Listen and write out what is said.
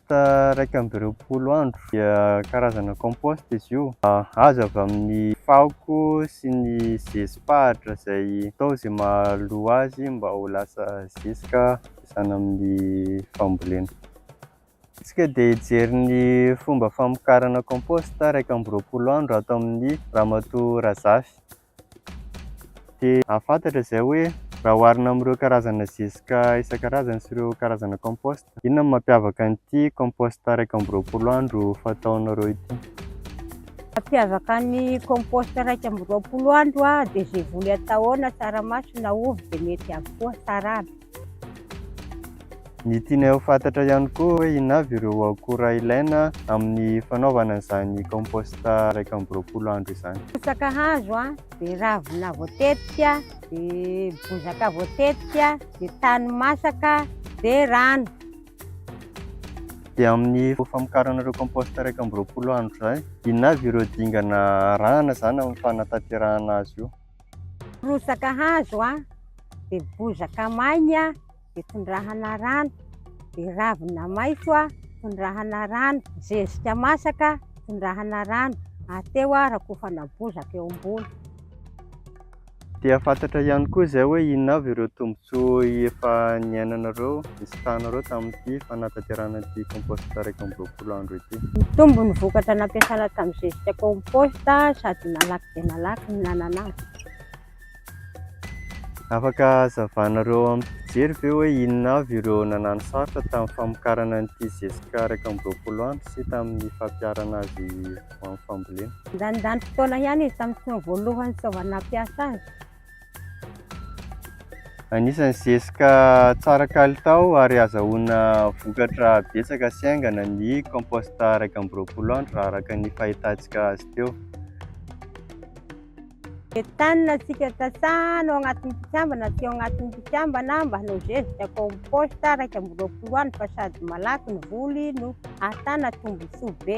After iraika amby roapolo andro dia karazana compost izy io. Azo avy amin'ny fako sy ny zezi-pahatra izay atao izay mahalo azy mba ho lasa zezika ampiasana amin'ny fambolena. Isika dia hijery ny fomba famokarana compost iraika amby roapolo andro ato amin'ny Ramatoa Razafy. dia hahafantatra izay hoe raha oharina amin'ireo karazana zezika isan-karazany sy ireo karazana compost, inona no mampiavaka an'ity compost iraika amby roapolo andro fataonareo ity? Mampiavaka ny compost iraika amby roapolo andro dia izay voly atao ao na tsaramaso na ovy dia mety avokoa, tsara aby. Ny tianay ho fantatra ihany koa hoe inona avy ireo akora ilaina amin'ny fanaovana izany compost iraika amby roapolo andro izany. Bozaka hazo a, dia ravina voatetika, dia bozaka voatetika, dia tany masaka, dia rano. Dia amin'ny famokarana ireo compost iraika amby roapolo andro izay, inona avy ireo dingana arahana izany amin'ny fanatanterahana azy io? Rotsaka hazo a, dia bozaka maina a, dia tondrahana rano, dia ravina maitso a, tondrahana rano, zezika masaka, tondrahana rano, ary teo a rakofana bozaka eo ambony. Dia fantatra ihany koa izay hoe inona avy ireo tombontsoa efa niainanareo, nisitranareo tamin'ity fanatanterahana ity compost iraika amby roapolo. folo andro ity. Nitombo ny vokatra nampiasana tamin'ny zezika compost sady malaky dia malaky ny nanana azy. Afaka hazavanareo amim-pijery ve hoe inona avy ireo nanano sarotra tamin'ny famokarana an'ity zezika iraika amby roapolo andro sy tamin'ny fampiharana azy ho amin'ny fambolena? Nandany fotoana ihany izy tamin'ny tsy maha voalohany tsy fitaovana nampiasa azy. Anisan'ny zezika tsara kalitao ary azahoana vokatra betsaka sy haingana ny compost iraika amby roapolo andro raha araka ny fahitantsika azy teo. Entanina antsika sasana ao anatin'ny mpikambana sy ao anatin'ny mpikambana mba hanao zezika compost iraika amby roapolo andro fa sady malaky ny voly no ahatana tombontsoa be.